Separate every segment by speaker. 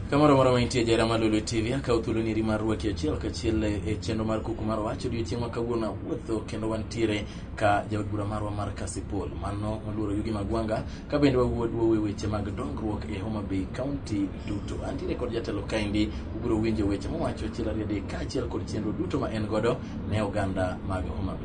Speaker 1: kamoro moro mantie jera malolo tv akaw thuolo niri mar rwaki achiel kachiel e chenro mar kuku mar wach odiochieng' ma kawuono awuotho kendo wantiere ka jaod bura marwa mar kasipol mano moluoro yugi magwanga ka bende wawuod wuowe weche mag dongruok e homa bay county duto antiere kod jatelo kaendi ubiro winjo weche mowacho achiel ariyo adek kaachiel kod chenro duto ma en godo ne oganda mag homa bay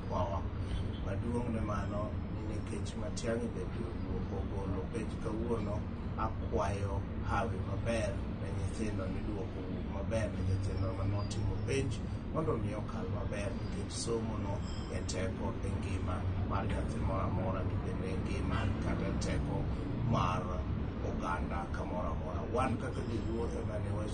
Speaker 2: Wawa. Maduong' ne mano ni nikech Matiang'i bende owuok ogolo penj kawuono, akwayo hawi maber ne nyithindo ni dwoko owuog maber ne nyithindo mane otimo penj mondo mi okal maber nikech somono e teko e ngima mar nyathi moro amora to bende e ngima kata e teko mar oganda kamoro amora. Wan kaka joluo ema ne wach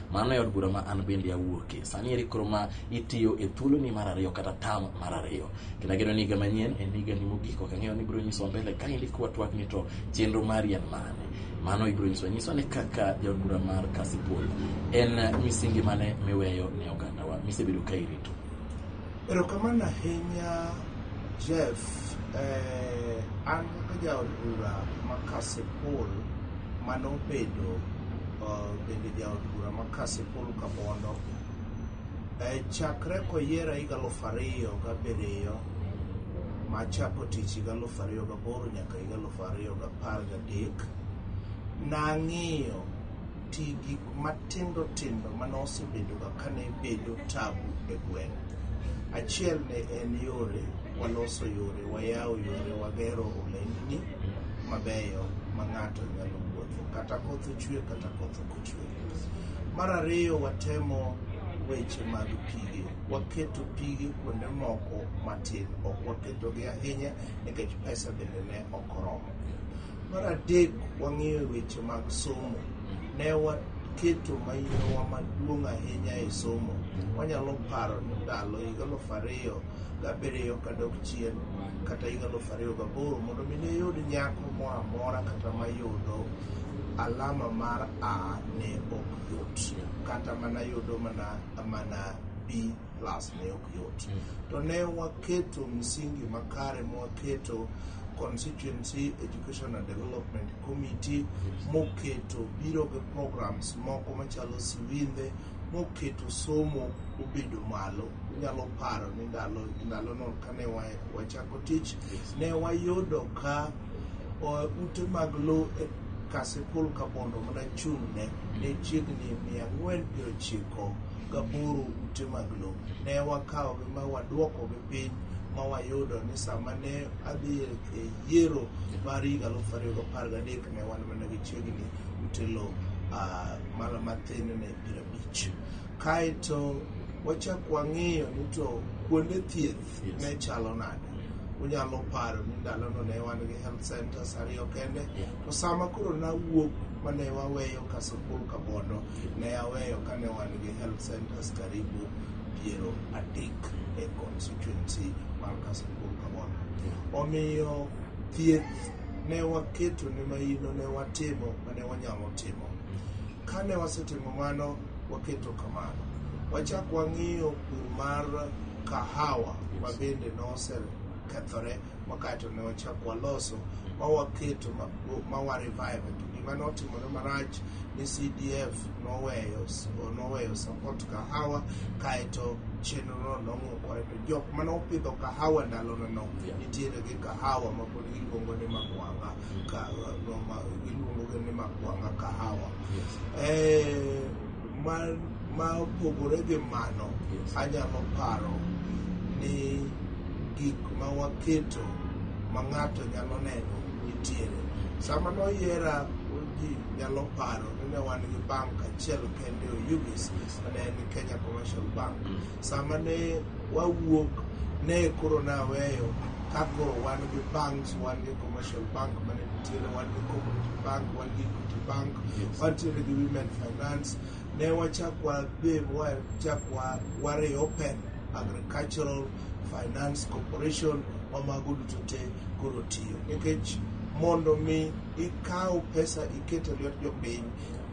Speaker 1: mano e od bura ma an bende awuoke sani eri koro ma itiyo e thuoloni mar ariyo kata tam mar ariyo kendo ageno ni higa manyien en higani mogik ok ang'eyo ni ibiro nyiswa mbele ka indi kwa twak ni to chenro mari en mane mano ibiro nyiswa nyiswa ni kaka jaod bura mar kasipul en misingi mane miweyo ne ogandawa misebedo ka irito Erokamano
Speaker 2: ahinya Jeff. Eh, an kaka jaod bura ma Kasipul mane obedo uh, bende jaod bura ma Kasipul Kabondo eh, chakre koyiera higa aluf ariyo gabiriyo machako tich higa aluf ariyo gaboro nyaka higa aluf ariyo gapar gadek nang'iyo Ti gik matindo tindo mane osebedoga kane bedo tabu e gweng'. Achiel ne en yore, waloso yore, wayawo yore, wagero olendni mabeyo ma ng'ato nyalo wuotho kata koth ochwe kata koth ok ochwe. Mar ariyo watemo weche mag pige, waketo pige kuonde moko matin, ok waketogi ahinya nikech pesa bende ne ok oromo. Mar adek, wang'iyo weche mag somo. Ne waketo mainowa maduong' ahinya e somo. Wanyalo paro ni ndalo higa aluf ariyo gabiriyo kadok chien kata higa aluf ariyo gaboro mondo mi ne yud nyako moro amora kata mayudo alama mar A ne ok yot. Kata mana yudo mana mana B plus ne ok yot to ne waketo msingi makare mwaketo constituency education and development committee moketo biro gi programs moko machalo siwindhe moketo somo obedo malo unyalo paro ni ndalo ndalono kane wa- wachako tich ne wayudo ka o, ute mag lowo e Kasipul Kabondo ma nachung'ne ne chiegni mia ang'wen piero ochiko gaboro ute mag lowo. Ne wakawogi ma waduokogi piny ma wayudo ni sama ne adhi e yiero mar higa aluf ariyo gi apar gadek ne wan mana gi chiegni ute lowo ah, mana mathin ne piero abich. Kaeto wachak wang'iyo ni to kuonde thieth Yes. ne chalo nade unyalo paro ni ndalono ne wan gi health centers ariyo kende Yeah. to sama koro nawuok mane waweyo kasukul kabondo ne aweyo kane wan gi health centers karibu piero adek e constituency mar kasukul kabondo omiyo thieth ne waketo ne mahino ne watimo mane wanyalo timo kane wasetimo mano waketo kamano. Wachak wang'iyo pur mar kahawa ma bende nosekethore wakaeto ne wachak waloso ma waketo ma- ma wa revive to gima notimore marach ni CDF noweyo noweyo support kahawa kaeto chenrono nong'ukore to jok mane opidho kahawa ndalono no Yeah. nitiere gi kahawa ma pod giluongo ni magwanga Ka- go ma- iluongogi ni makwanga kahawa Yes. Eh, ma ma opogore gi mano Yes. anyalo paro ni gik ma waketo ma ng'ato nyalo neno nitiere sama noyiera ji nyalo paro ni ne wan gi bank achiel kende oyugis ne en kenya commercial bank Mm. sama ne wawuok ne koro naweyo ka koro wan gi banks wan gi commercial bank mane nitiere wan gi cooperative bank wan gi equity bank Yes. wantiere gi women finance ne wachak wabe wachak wa- wareopen agricultural finance corporation ma mago duto te koro tiyo nikech mondo mi ikaw pesa iket e lwet jopiny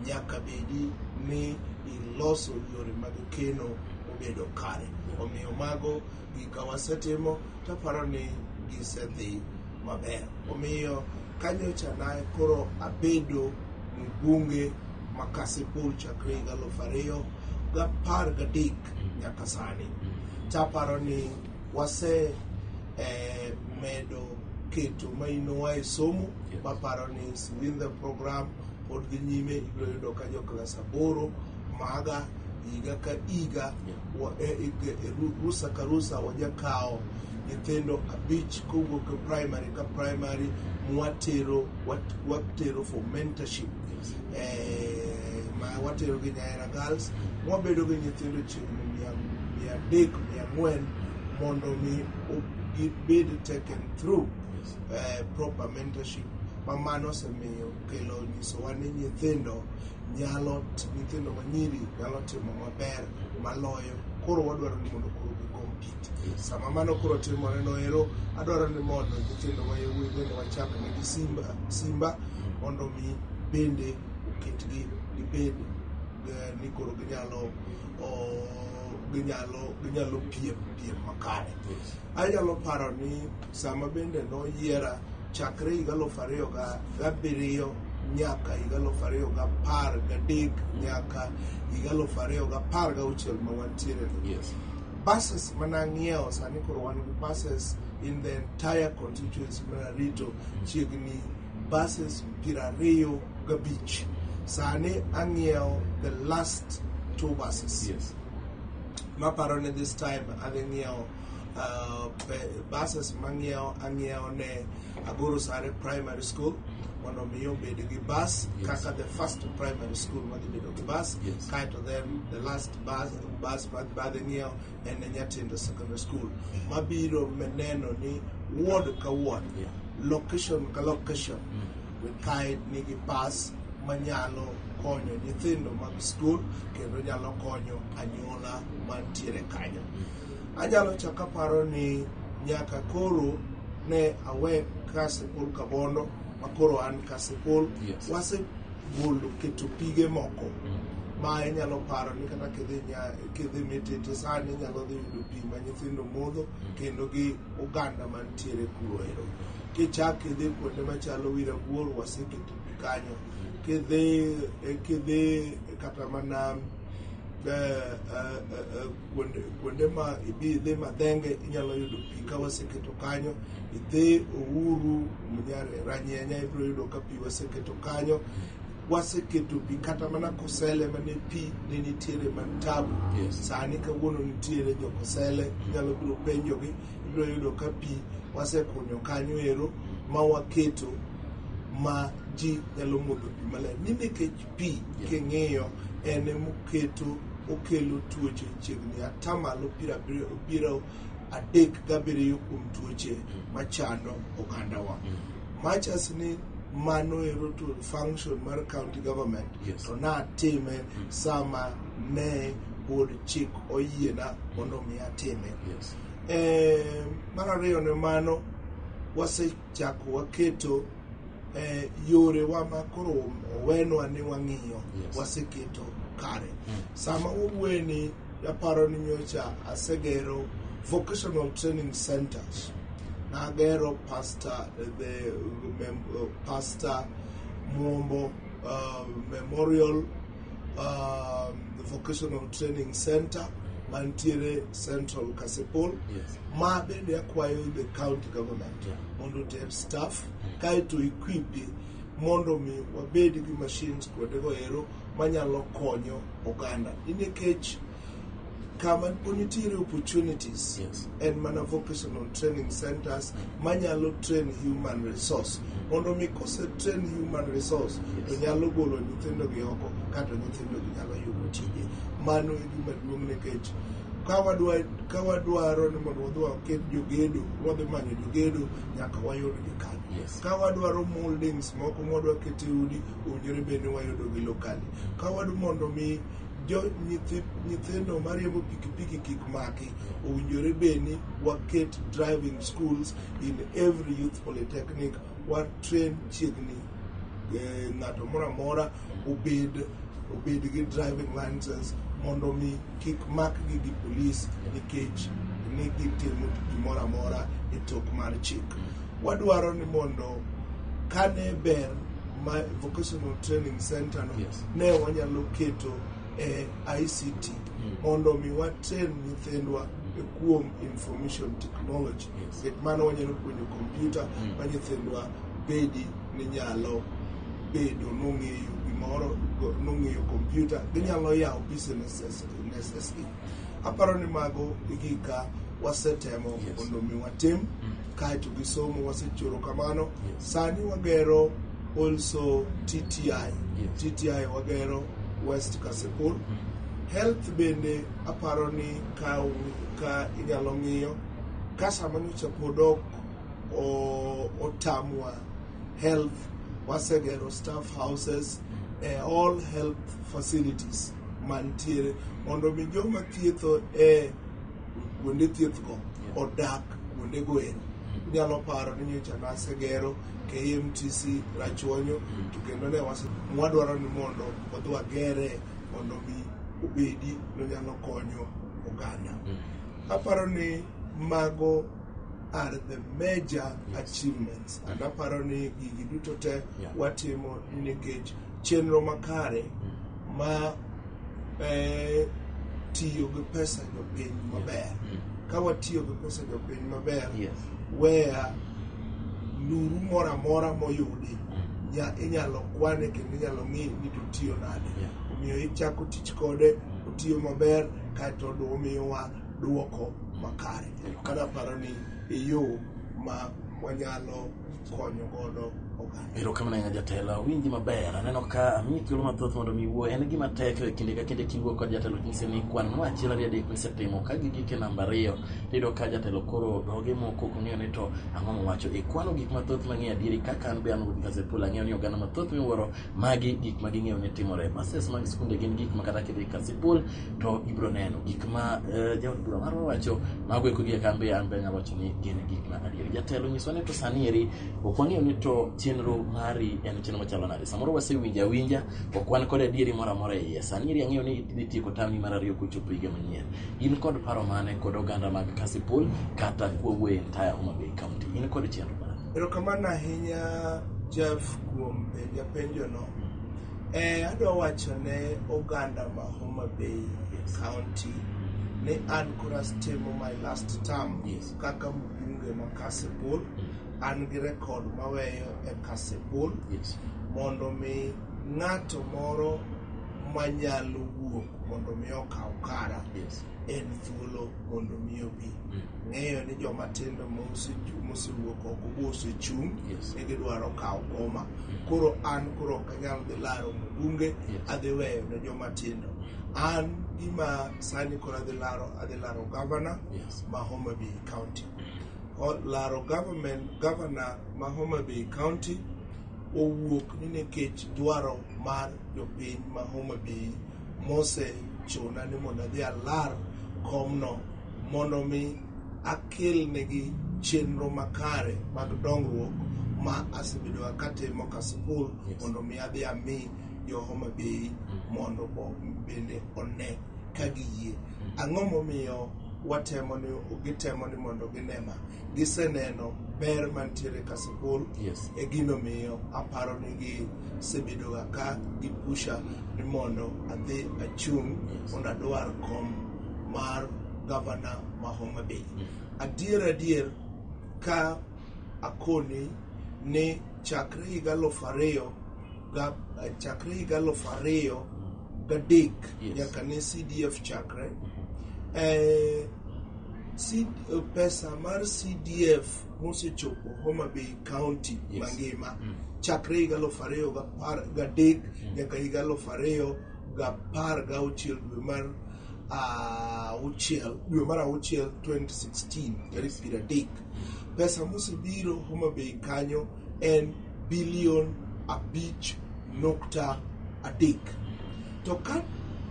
Speaker 2: nyaka bedi ni iloso yore mag keno obedo kare omiyo mago gik ka wasetimo to aparo ni gisedhi maber. Omiyo kanyocha na koro abedo mbunge ma Kasipul chakre higa aluf ariyo gapar gadek nyaka sani. To aparo ni wase eh, medo keto mainowa e somo Yes. maparo ni within the program pod dhi nyime ibiro yudo ka jo klas aboro maga higa ka higa wa- e- e- e- ru- rusa ka rusa wajakawo nyithindo abich kowuok e primary ka primary mwatero wat- watero for mentorship eh, ma watero gi nyahera girls mwabedo gi nyithindo chiegni mia mia adek mia ang'wen mondo mi o- gibed taken through eh, proper mentorship ma mano osemiyo kelo nyisowa ni nyithindo nyalo nyithindo manyiri nyalo timo maber maloyo koro wadwaro ni mondo koro gikompit sama mano koro timore noero adwaro ni mondo nyithindo ma yawuoyi bende wachak negi simba simba mondo mi bende oketgi gibed eh, ni koro ginyalo oh, ginyalo ginyalo piem piem makare anyalo paro ni sama bende noyiera chakre higa aluf ariyo gabiriyo nyaka higa aluf ariyo gapar gadek nyaka higa aluf ariyo gapar gauchiel ma wantiere yes. buses manang'iewo sani koro wan gi buses in the entire constituency mar arito chiegni buses piero ariyo gabich sani ang'iewo the last two buses yes. maparo ni this time adhi ng'iewo ah, pe- buses mang'iewo ang'iewo ne agoro sare primary school mondo mi obed gi bus Yes. kaka the first primary school madhi bedo gi bus Yes. kaeto then the last bus, bus ma- madhi ng'iewo en e nyatindo secondary school mabiro me- neno ni ward ka ward Yeah. location ka location kae nigi bus manyalo konyo nyithindo mag skul kendo nyalo konyo anyuola mantiere kanyo Anyalo chako aparo ni nyaka koro ne awe Kasipul Kabondo ma koro an Kasipul. Yes. Wasegolo keto pige moko ma inyalo paro ni kata kidhi nya- kidhi mitete sani inyalo dhi yudo pi ma nyithindo modho kendo gi oganda mantiere kuro ero. Kichak idhi kuonde machalo Wirabuor waseketo pi kanyo. Kidhi eh, kidhi kata mana eh, eh, eh, eh, kuonde kuonde ma ibi idhi madhenge inyalo yudo pi ka waseketo kanyo idhi ouru Munyar- ranyenya ibiro yudo ka pi waseketo kanyo waseketo pi kata mana kosele mane pi ne nitiere man tabu Yes. sani kawuono nitiere jokosele inyalo biro penjogi ibiro yudo ka pi wasekunyo kanyo ero ma waketo ma ji nyalo modho pi maler ni nikech pi king'iyo en emoketo okelo tuoche chiegni atamalo piero abiriyo piero adek gabiriyo kuom tuoche machando ogandawa machas ni mano ero to function mar county government Yes. to natime sama ne pod chik oyiena mondo mi atime Yes. Eh, mar ariyo ne mano wase chako waketo eh, yorewa ma koro owenwa ni wang'iyo Yes. waseketo kare Mm. sama wawuoye ni aparo ni nyocha asegero vocational training centers nagero pastor eh, the mem- eh, pastor muombo uh, memorial um, the vocational training center mantiere central kasipul Yes. ma bende akwayo the county government Yeah. mondo oter staff kaeto equipi mondo mi wabed gi machines kuondego ero manyalo konyo oganda ni nikech kama nitiere opportunities yes. en mana vocational training centers manyalo train human resource mondo mi kose train human resource yes. to nyalo golo nyithindo gi oko kato nyithindo gi nyalo yudo tije mano e gima duong' nekech ka wadwaro ni mondo wadhi waket jogedo wadhi manyo jogedo nyaka wayud gi kanyo yes. ka wadwaro moldings moko mwadwa kete udi owinjore bende wayudo gi lokali ka wadu mondo mi jo nyithi nyithindo mariembo pikipiki kik maki owinjore bed ni waket driving schools in every youth polytechnic watrain chiegni eh, ng'ato moro amora obed obed gi driving license mondo mi kik makgi gi polis nikech ni gitimo gimoro amora e tok mar chik wadwaro ni mondo kane ber ma vocational training center no yes. ne wanyalo keto e ICT mm. mondo mi watrain nyithindwa e kuom information technology yes. gik mano wanyalo puonjo kompyuta mm. ma nyithindwa bedi ni nyalo bedo nong'eyo gimoro nong'eyo kompyuta ginyalo yawo businesses e Aparo ni mago e gika wasetemo mondo mi watim mm. kaeto gi somo wasechoro kamano sani wagero also tti tti wagero west kasepur mm. health bende aparo ni ka, ka inyalo ng'iyo ka sama nyocha pod ok otamwa health wasegero staff houses mm. eh, all health facilities mantiere mondo mi joma thietho e kuonde thiethgo odak kuondego ero inyalo paro ni nyocha nasegero KMTC Rachuonyo mm. to kendo ne wadwaro ni mondo wadhi wagere mondo mi obedi nonyalo konyo oganda mm. aparo ni mago are the major achievements and aparo ni gigi duto te watimo nikech chenro makare mm. ma eh, tiyo gi pesa jopiny maber Mm. ka watiyo gi pesa jopiny maber Yes. weya luru moro amora moyudi Mm. nya- inyalo kwane kendo inyalo ng'i ni to tiyo nade Yeah. omiyo ichako tich kode otiyo maber kaeto du- omiyowa dwoko makare Erokamano. kana paro ni e yo ma wanyalo konyo godo oganda. Erokamano ahinya jatelo,
Speaker 1: awinji maber. Aneno ka amiyi thuolo mathoth mondo mi iwuo. En gima tek e kinde ka kinde kiwuo kod jatelo nyise ni kwan ma achiel ariyo adek misetimo ka gigik e namba ariyo tiyudo ka jatelo koro dhoge moko ok ong'eyo ni to ang'o mowacho. Ikwano gik mathoth mang'eyo adieri kaka an be an Ruth Kasipul ang'eyo ni oganda mathoth miwuoro magi gik ma ging'eyo ni timore. Buses mag skunde gin gik ma kata kidhi Kasipul to ibiro neno gik ma eh, jaod bura marwa wacho mago eko gi kambe an be anyalo wacho ni gin gik ma adier jatelo nyiswa ni to sani eri ok wang'eyo ni to chenro mari en chenro machalo nade samoro wasewinjo awinja ok wan kod adieri moro amora e iye sani eri ang'eyo ni idhi tieko tamni mar ariyo kochopo higa manyien in kod paro mane kod oganda mag kasipul kata kwawuoye entire homa bay county in kod chenro mane erokamano ahinya
Speaker 2: jeff kuom penja penjono Eh, adwa wacho ne oganda ma Homa Bay County ni an koro astimo my last term Yes. kaka mbunge ma Kasipul. An gi rekod maweyo e Kasipul Yes. mondo mi ng'ato moro manyalo wuok mondo mi okaw kara Yes. en thuolo mondo mi obi ng'eyo ni joma tindo mosechu- mosewuok oko mosechung' Yes. ne gidwaro kawo koma koro an koro ok anyal dhi laro mbunge Yes. adhi weyo ne joma tindo an gima sani koro adhi laro adhi laro gavana Yes. ma Homa Bay County O- laro government gavana ma Homa Bay County owuok ni nikech dwaro mar jopiny ma Homa Bay mosechuna ni mondo adhi alar komno mondo mi akelnegi chenro makare mag dongruok ma asebedo katimo ka sikul mondo mi adhi ami jo Homa Bay mondo bende one ka giyie. Ang'o momiyo watemo ni gitemo ni mondo ginema giseneno ber mantiere ka sikul e gino miyo aparo ni gi sebedoga ka gipusha ni mondo adhi achung' mondo adwar kom mar gavana ma Homa Bay. Adier adier ka akoni ni chakre higa aluf ariyo ga- chakre higa aluf ariyo gadek Yes. nyaka ne CDF chakre eh, C- pesa mar CDF mosechopo Homa Bay County Yes. mangima Mm. chakre higa aluf ariyo gapar gadek nyaka higa aluf ariyo gapar gauchiel dwe mar ah, auchiel dwe mar auchiel 2016 tarik piero adek pesa mosebiro Homa Bay kanyo en bilion abich nukta adek. To ka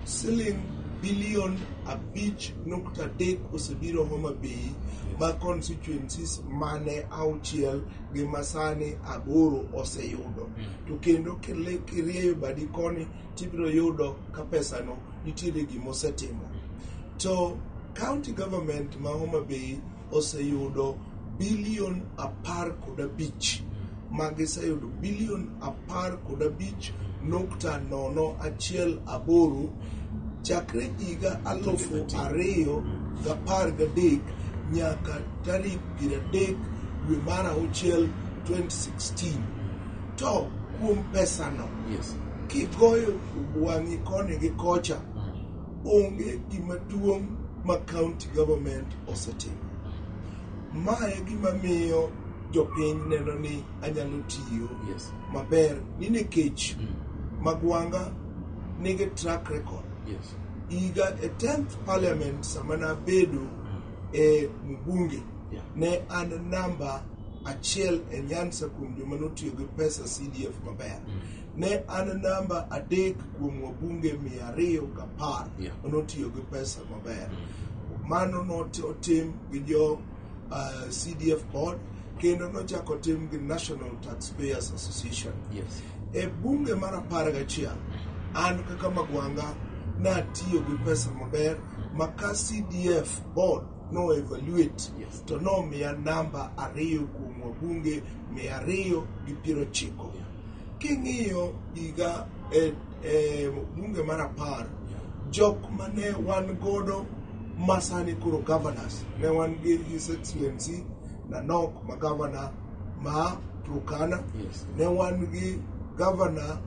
Speaker 2: siling' bilion abich nukta adek osebiro Homa Bay ma constituencies mane auchiel gi masani aboro oseyudo hmm. to kendo kirieyo badi koni tibiro yudo ka pesano nitiere gima osetimo to county government ma Homa Bay oseyudo bilion apar kod abich ma giseyudo bilion apar kod abich nukta nono achiel aboro chakre higa alufu ariyo gapar gadek nyaka tarik piero adek dwe mar auchiel 2016 to kuom pesano Yes. kigoyo wang'i koni gi kocha Onge gima duong' ma county government osetimo. Ma e gima miyo jopiny neno ni anyalo tiyo Yes. maber ni nikech Mm. Magwanga nigi track record. Yes. Higa e 10th parliament sama nabedo e mbunge Yeah. ne an namba achiel e Nyanza kuom joma notiyo gi pesa CDF maber. ne an namba adek kuom wabunge mia ariyo gi apar Yeah. notiyo gi pesa maber mano notim gi jo uh, cdf board kendo nochako tim gi national taxpayers association Yes. e bunge mar apar gachiel an kaka magwanga natiyo gi pesa maber ma ka cdf board no evaluate Yes. to nomiya namba ariyo kuom wabunge mia ariyo gi piero ochiko Yeah. King'iyo higa e, e bunge mar apar, jok mane wan godo masani koro governors, ne wan gi His Excellency Nanok ma governor ma Turkana, Yes. ne wan gi governor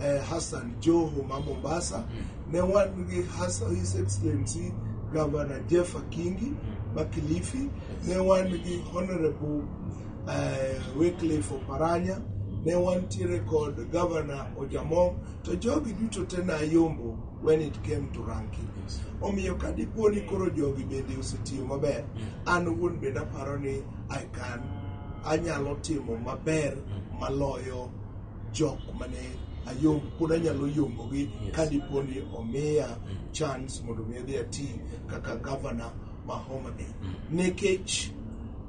Speaker 2: eh, Hassan Joho ma Mombasa, ne wan gi Hassan, His Excellency Governor Jeff Akingi ma Kilifi, ne wan gi Honorable eh, Wycliffe Oparanya, ne wantiere kod Governor Ojamong, to jogi duto te nayombo when it came to ranking. Omiyo ka dipo ni koro jogi bende osetiyo maber, an wuon bende aparo ni I can anyalo timo maber maloyo jok mane ayom pod anyalo yombogi ka dipo ni omiya chance mondo mi adhi ati kaka governor ma Homa Bay. Nekech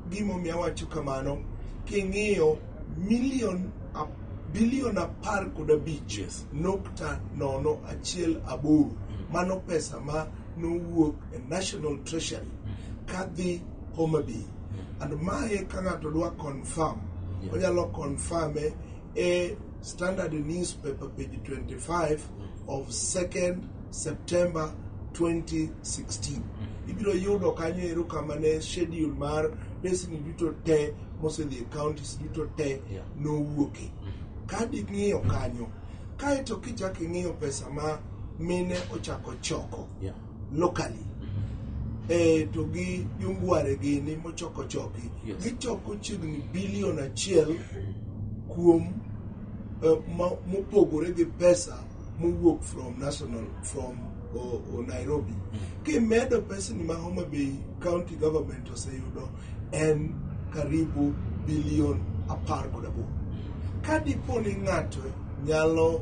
Speaker 2: gimomiyo awacho kamano, king'iyo milion a- bilion apar kod abich Yes. nukta nono achiel aboro mano pesa ma nowuok e National Treasury kadhi Homa Bay. And mae ka ng'ato dwa confirm, Yes. onyalo confirme A Standard newspaper, page 25 of 2nd September 2016. Ibiro yudo kanyo ero kama ne schedule mar pesni duto te mosedhi e counties duto te Yeah. nowuoke. Ka ding'iyo kanyo, kaeto kichako ing'iyo pesa ma mine ochako choko Yeah. locally e to gi yungware gini mochoko choki yes. gichoko chiegni bilion achiel kuom uh, mopogore gi pesa mowuok from national from o, o Nairobi mm. kimedo pesni ma Homa Bay county government oseyudo en karibu bilion apar kod aboro ka dipo ni ng'ato nyalo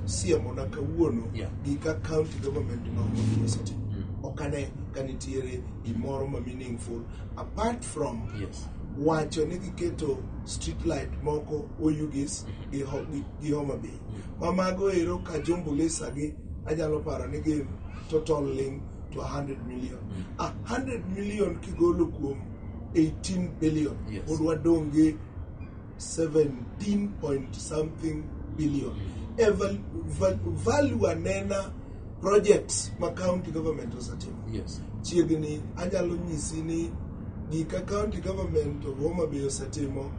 Speaker 2: siemona kawuono Yeah. gi ka county government ma Homabay osetimo Mm. ok ane ka nitiere gimoro ma meaningful apart from Yes. wacho ni giketo street light moko oyugis gi Ho- gi- gi Homa Bay ma mago ero ka jombulisa gi anyalo paro ni gin total ling to 100 million a 100 million kigolo kuom 18 billion Yes. pod wadong' gi 17 point something billion eval value anena projects ma county government osetimo yes. chiegni anyalo nyisi ni gika county government of Homa Bay osetimo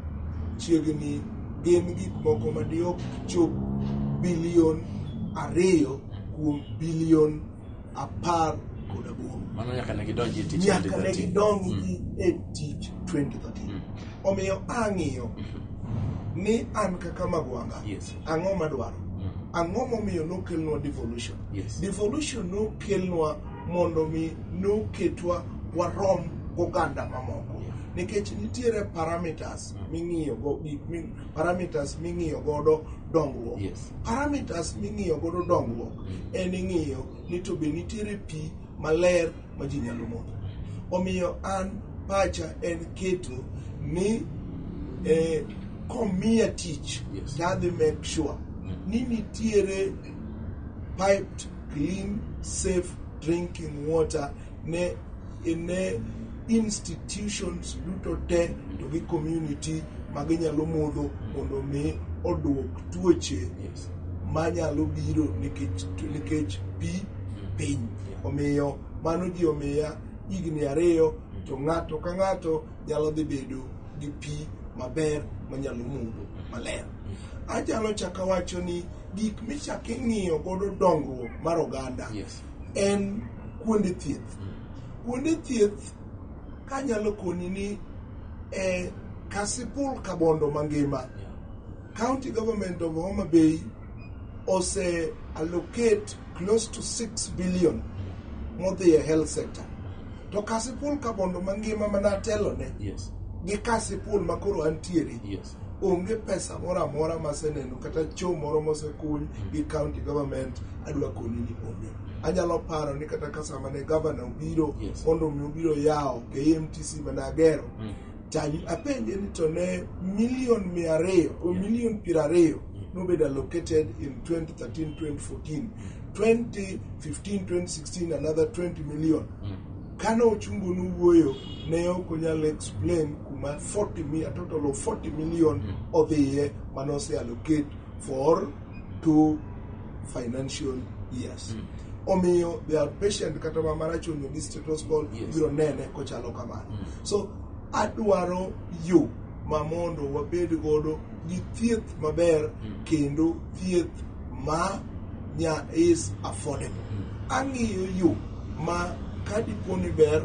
Speaker 2: chiegni gin gik moko madiok chop bilion ariyo kuom bilion apar kod aboro Mano nyaka ne gidonji e
Speaker 1: tich nyaka ne 2013. gidonji
Speaker 2: e tich 2013 omiyo ang'iyo ni an kaka magwanga Yes. ang'o madwaro ang'o momiyo nokelnwa devolution Yes. devolution nokelnwa mondo mi noketwa warom goganda mamoko Yeah. nikech nitiere parameters ming'iyogo gik mi- parameters ming'iyo godo dongruok yes. parameters ming'iyo godo dongruok mm. en ing'iyo ni to be nitiere pi maler ma ji nyalo modho omiyo an pacha en keto ni eh, komiya tich yes. tadhi make sure mm. ni nitiere piped clean safe drinking water ne ne institutions duto te to gi community ma ginyalo modho mondo mi oduok tuoche yes. manyalo biro nikech nikech pi piny omiyo mano ji omiya higni ariyo to ng'ato ka ng'ato nyalo dhi bedo gi pi maber manyalo modho maler achalo chaka wacho ni gik michak ing'iyo godo dongruok mar oganda yes. en kuonde thieth. Kuonde thieth kanyalo koni ni e Kasipul Kabondo mangima, County Government of Homa Bay ose allocate close to 6 billion modhi e health sector. To Kasipul Kabondo mangima mana telone yes. gi Kasipul makoro antiere yes. onge pesa moro amora maseneno kata cho moro mosekuny gi county government adwa koni ni onge anyalo paro ni kata kasama ne gavana obiro Yes. mondo mi obiro yawo KMTC managero Mm. to apenje ni to ne milion mia ariyo o Yeah. milion piero ariyo nobedo allocated in 2013 2014 2015 2016 another 20 million Mm. Kane Ochungu nowuoyo, ne ok onyal explain kuma 40 mi, a total of 40 million odhiye mane ose allocate for two financial years. Omiyo their patient kata ma marach onyo gi status quo Yes. ibiro nene kochalo kamano. So adwaro yo ma mondo wabed godo gi thieth maber kendo thieth ma nya is affordable ang'iyo yo ma kadipo ni ber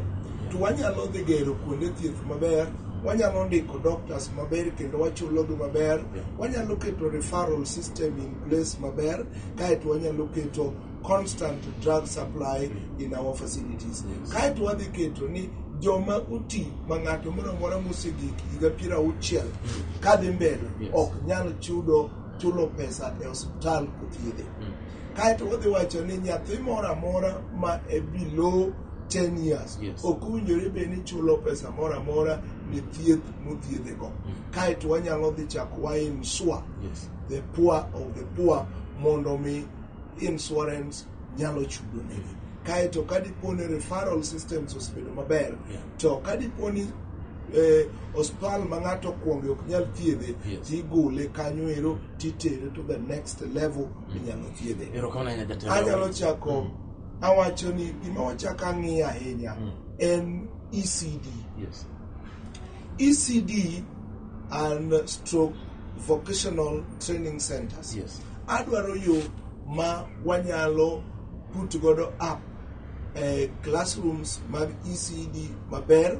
Speaker 2: to wanyalo dhi gero kuonde thieth maber wanyalo ndiko doctors maber kendo wachulogi maber wanyalo keto referral system in place maber kaeto wanyalo keto constant drug supply in our facilities kaeto wadhi keto ni joma oti ma ng'ato moro amora mosegik higa piero auchiel kadhi mbele ok nyal chudo chulo pesa e osiptal kothiedhe mm. kaeto wadhi wacho ni nyathi moro amora ma e below 10 years ok owinjore bed ni chulo pesa moro amora ni thieth mothiedhego mm. kaeto wanyalo dhi chako wa insure the poor of the poor mondo mi insurance nyalo chudo negi kae to ka dipo ni referral systems osebedo maber yeah. to ka dipo ni eh, hospital ma ng'ato okuonge ok nyal thiedhe yes. tigole kanyo ero titere to the next level mm. inyalo thiedhe anyalo chako mm. awacho ni gima wachako ang'iyo ahinya mm. en ecd yes. ECD and stroke vocational training centers. Yes. Adwaro yo ma wanyalo put godo up eh, classrooms mag ECD maber